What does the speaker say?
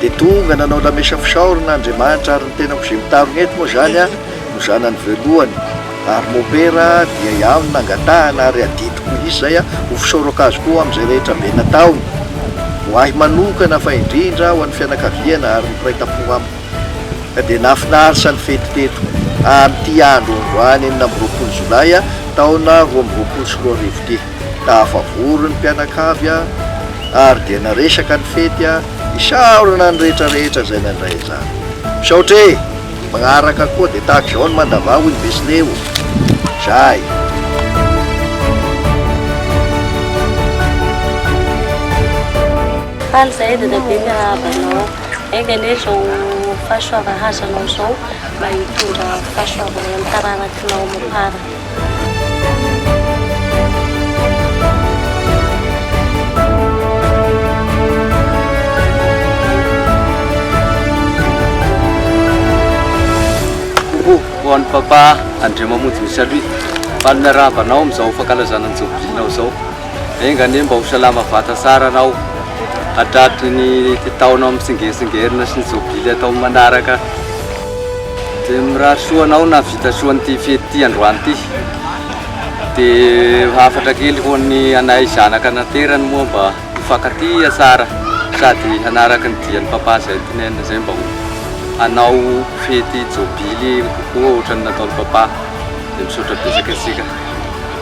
Dia tonga nanao lamesa fisaorana Andriamanitra ary ny tenako izay mitarona eto moa izany no zanany voalohany ary mopera dia iaho no nangatahana ary adidiko mihintsy izay ho fisaorako azy koa amin'izay rehetra be nataony ho ahy manokana fa indrindra ho an'ny fianakaviana ary ny mpiray tampo amiko ka dia nahafinarisa ny fety teto amin'ity andro androany enina amby roapolo jolay taona roa amby roapolo sy roa arivo ity. Tafavory ny mpianakavy ary dia naresaka ny fety hisaorana ny rehetra rehetra izay nandray izany. Misaotra e! Magnaraka koa dia tahaka izao ny mandava hoy ny Besle o! Zay! Faly zahay dadabe miarahaba anao. Enga anie izao fahasoavan'hazanao izao mba hitondra fahasoavana amin'ny taranakinao amam-para. Papa Andriamamonjy Misalut fa ny miarahaba anao amin'izao fankalazana ny Jobilinao izao. Enga anie mba ho salama vata tsara anao hatraty ny taona mitsingeritsingerina sy ny Jobily atao manaraka. Dia mirary soa anao nahavita soa an'ity fety ity androany ity. Dia hafatra kely ho an'ny anay zanaka naterany moa mba hifankatia tsara sady hanaraka ny dian'ny Papa izay tinenina izay mba ho hanao fety jobily kokoa ohatran'ny nataon'i Papa. Dia misaotra betsaka antsika.